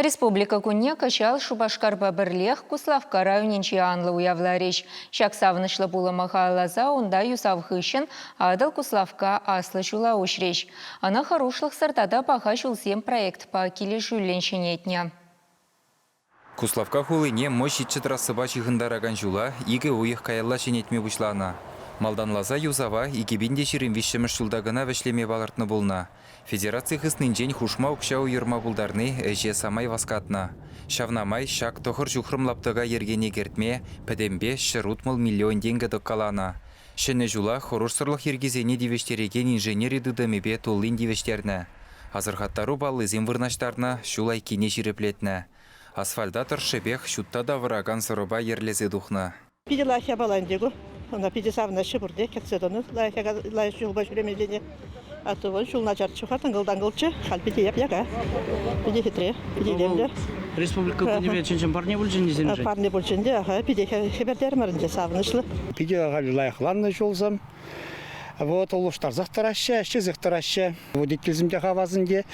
Республика кунне кӑҫал Шупашкарпа пӗрлех Куславкка районӗнче анлӑ уявларӗҫ. Ҫак савӑнӑҫлӑ пулӑма халалласа унта юсав хыҫҫӑн Атӑл Куславкка аслӑ ҫула уҫрӗҫ. Ӑна хӑрушлӑхсӑр тата паха ҫулсем проектпа килӗшӳллӗн ҫӗнетнӗ. Куславкка хулине мӑй ҫиччӗ трассӑпа ҫыхӑнтаракан ҫула икӗ уйӑх каялла ҫӗнетме пуҫланӑ. Малтанласа юсава икӗ пин те ҫирӗм виҫҫӗмӗш ҫулта кӑна вӗҫлеме палӑртнӑ пулнӑ. Федераци хыснинчен хушма укҫа уйӑрма пултарни ӗҫе самай васкатнӑ. Ҫавна май ҫак тӑхӑр ҫухрӑм лаптӑка йӗркене кӗртме пӗтӗмпе ҫӗр утмӑл миллион тенкӗ тӑккаланӑ. Ҫӗнӗ ҫула хӑрушсӑрлӑх йӗркисене тивӗҫтерекен инженери тытӑмӗпе туллин тивӗҫтернӗ, асӑрхаттару паллисем вырнаҫтарнӑ, ҫул айккине ҫирӗплетнӗ. Асфальта тӑршшӗпех ҫутта тавӑракан сӑрӑпа йӗрлесе тухнӑ. Питӗ лайӑх япала ӗнтӗ ку. Ӑна питӗ савӑнаҫҫӗ пурте, кӗтсе тӑнӑ лайӑх яка, лайӑх чухпа ҫӳремеллине. А то вӑл ҫул начарччӗ-ха, тӑнкӑл-танкӑлччӗ. Халь питӗ яп-яка, питӗ хитре, питӗ илемлӗ. Республика кунӗпе чӑн-чӑн парне пулчӗ ӗнтӗ сирӗншӗн? Парне пулчӗ ӗнтӗ, аха. Питӗ хӗпӗртермӗр ӗнтӗ, савӑнӑҫлӑ. Питӗ халь лайӑхланнӑ ҫулсем. Вот улӑштарсах тӑраҫҫӗ, ӗҫлесех тӑраҫҫӗ. Водительсем те хавасӑн те,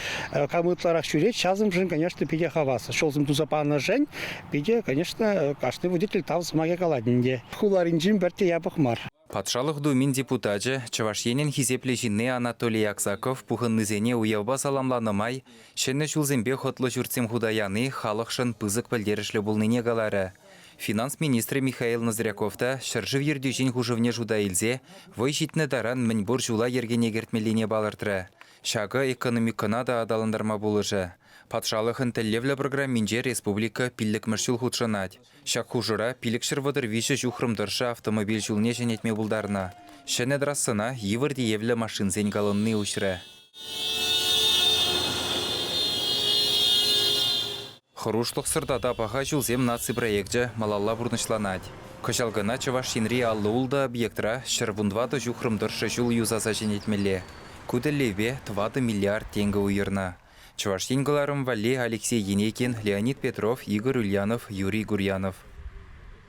кам ытларах ҫӳрет, ҫасӑмшӑн, конечно, питӗ хавас. Ҫулсем туса панӑшӗн питӗ, конечно, кашни водитель тав сӑмахӗ калать ӗнтӗ. Хуларинчен пӗртте япӑх мар. Патшалӑх Думин депутачӗ, Чӑваш Енӗн хисеплӗ ҫынни Анатолий Аксаков пухӑннисене уявпа саламланӑ май ҫӗнӗ ҫулсемпе хӑтлӑ ҫуртсем хута яни халӑхшӑн пысӑк пӗлтерӗшлӗ пулнине каларӗ. Финанс министрӗ Михаил Ноздряков та ҫӗршыв ертӳҫин хушӑвне шута илсе вӑй ҫитнӗ таран мӗнпур ҫула йӗркене кӗртмеллине палӑртрӗ. Ҫакӑ экономикӑна та аталантарма пулӑшӗ. Патшалӑхӑн тӗллевлӗ программинче республика пиллӗкмӗш ҫул хутшӑнать. Ҫак хушӑра пилӗкҫӗр вӑтӑр виҫӗ ҫухрӑм тӑршшӗ автомобиль ҫулне ҫӗнетме пултарнӑ. Ҫӗнӗ трассӑна йывӑр тиевлӗ машинсен колонни уҫрӗ. Хӑрушлӑхсӑр тата паха ҫулсем наци проекчӗ малалла пурнӑҫланать. Кӑҫал кӑна Чӑваш Енри аллӑ-ултӑ объектра ҫӗр вун тӑватӑ ҫухрӑм тӑршшӗ ҫул юсаса ҫӗнетмелле. Ку тӗллевпе тӑватӑ миллиард тенкӗ уйӑрнӑ. Чӑваш Ен кӑларӑм валли Алексей Енекин, Леонид Петров, Игорь Ульянов, Юрий Гурьянов.